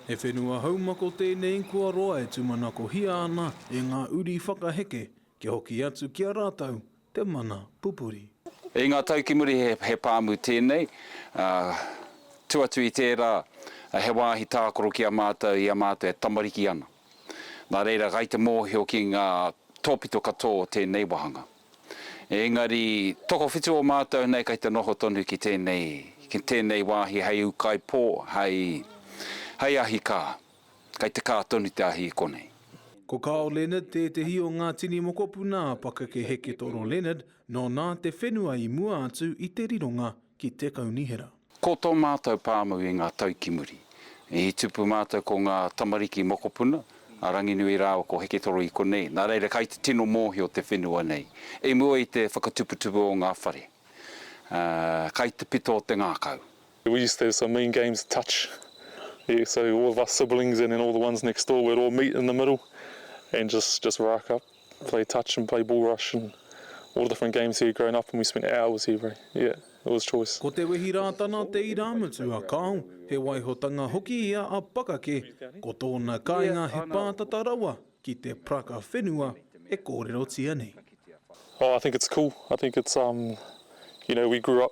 He whenua haumako tēnei kua roa e tumanakohia ana e ngā uri whakaheke kia hoki atu ki a rātou te mana pupuri. I ngā tau ki muri he pāmu tēnei, ā, tū atu i tērā he wāhi tākaro ki a mātou i a mātou e tamariki ana. Nā reira, gai te mōhio ki ngā tōpito katoa o tēnei wāhanga. Engari, tokowhitu o mātou nei kei te noho tonu ki tēnei, ki tēnei wāhi hei ūkaipō, hei, hei ahi kā. Kei te kā tonu te ahi i konei. Ko Carl Leonard tētehi o ngā tini mokopuna a Pakeke Heke Toro Leonard, nōna te whenua i mua atu i te rironga. Ki te Kaunihera. Ko tō mātou pāmu i ngā tau ki muri, i tupu mātou ko ngā tamariki mokopuna, a Ranginui rāua ko Heketoro i konei, nā reira kai te tino mōhio te whenua nei, i mua i te whakatuputupu o ngā whare, ā, kai te pito o te ngākau. We used to have some mean games of touch, yeah, so all of us siblings and then all the ones next door we'd all meet in the middle and just just rack up. Play touch and play bull rush and all the different games here growing up and we spent hours here bro, yeah, it was choice. Ko Te Wehi Rātana te irāmutu a Carl, he waihotanga hoki ia a Pakake, ko tōna kāinga he pātata rawa ki te praka whenua e kōrerotia nei. Oh, I think it's cool, I think it's um, you know, we grew up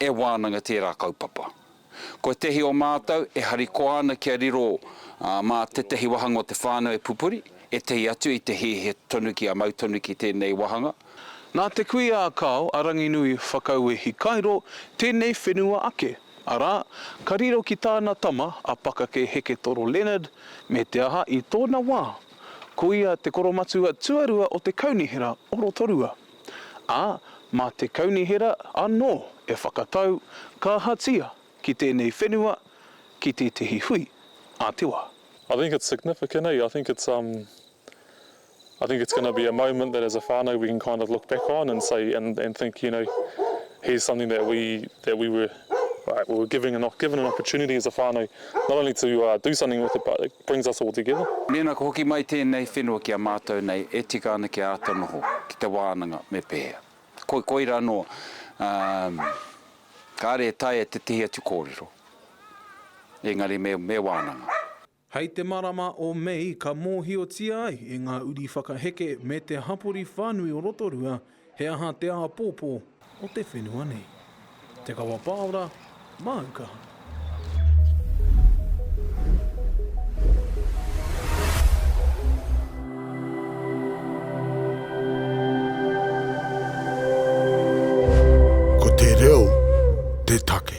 e wānanga tērā kaupapa. Ko ētehi o mātou e harikoa ana kia riro mā tētehi wāhanga o te whānau e pupuri, ētehi atu i te hēhē tonu kia mau tonu ki tēnei wāhanga. Nā te kui a Kao, a Ranginui Whakauwe Hikairo, tēnei whenua ake, arā, ka riro ki tāna tama a Pakake Heketoro Leonard, me te aha, i tōna wā, ko ia te koromatua tuarua o te kaunihera o Rotorua. ā, mā te Kaunihera anō e whakatau kāhatia ki tēnei whenua, ki tētehi hui a te wā. I think it's significant eh, I think it's um I think it's going to be a moment that as a whānau we can kind of look back on and say and and think you know here's something that we that we were Right, well we're giving an, given an opportunity as a whānau not only to uh, do something with it but it brings us all together. Mēnā ka hoki mai tēnei whenua ki a mātou nei, e tika ana kia āta noho ki te wānanga me pēhea. Koi, koira anō, um, kāre e taea tētehi atu kōrero, engari me, me wānanga. Hei te marama o Mei ka mōhiotia ai e ngā uri whakaheke me te hapori whānui o Rotorua he aha te āpōpō o te whenua nei. Te Kawa Pāora, māu kaha. Ko te reo te take.